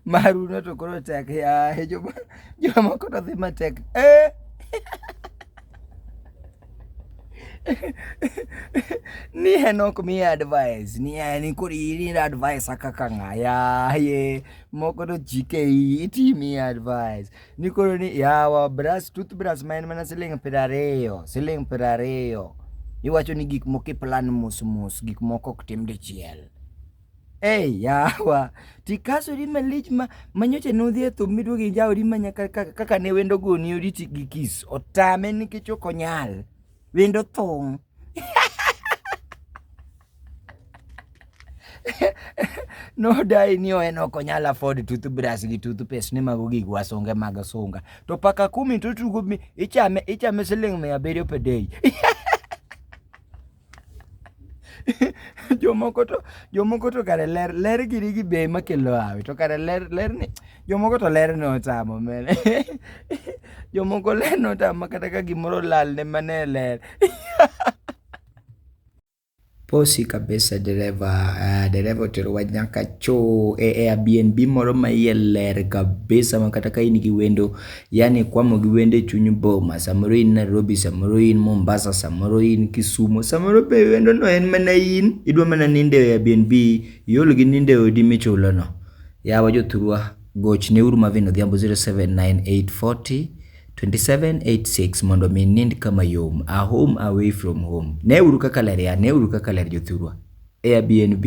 Maru no to koro tek yaye joma jomoko to dhi matek eh. ni en ok mi advice ni en koro in advice kaka ng'a yaye moko to chike iyi itimi advice Niko ni yawa brush toothbrush ma en mana siling piero ariyo, siling piero ariyo. Iwacho ni gik moko iplan mos mos, gik moko ok tim dichiel. Ei yawa, tikasori malich ma manyocha nodhi e thum miduogo injawori manya kaka ne wendo goni oriti gi kiss. Otame nikech ok onyal. Wendo thung'. no dai ni en ok onyal afford toothbrush gi toothpaste ni mago gik wasunge mag sunga to paka kumi to tugo mi ichame ichame siling mia abiriyo per day jomoko to jomoko to kare ler ler giri gi be makelo hawi to kare ler ler ni Jomoko to ler ne otamo men. Jomoko ler ne otamo kata ka gimoro lal ne mane ler. Posi kabisa dereva, uh, dereva oterowa nyaka choo e Airbnb moro ma iye ler kabisa ma kata ka in gi wendo, yani kwamo gi wendo e chuny boma, samoro in Nairobi, samoro in Mombasa, samoro in Kisumo, samoro be wendo no en mana in, idwa mana nindo e Airbnb, iol gi nindo e odi michulo no. Yawa jothurwa, gochneuru Marvin Odhiambo 0798402786 mondo mi nind kama yom. A home away from home. Neuru kaka ler ya, neuru kaka ler jothurwa. Airbnb.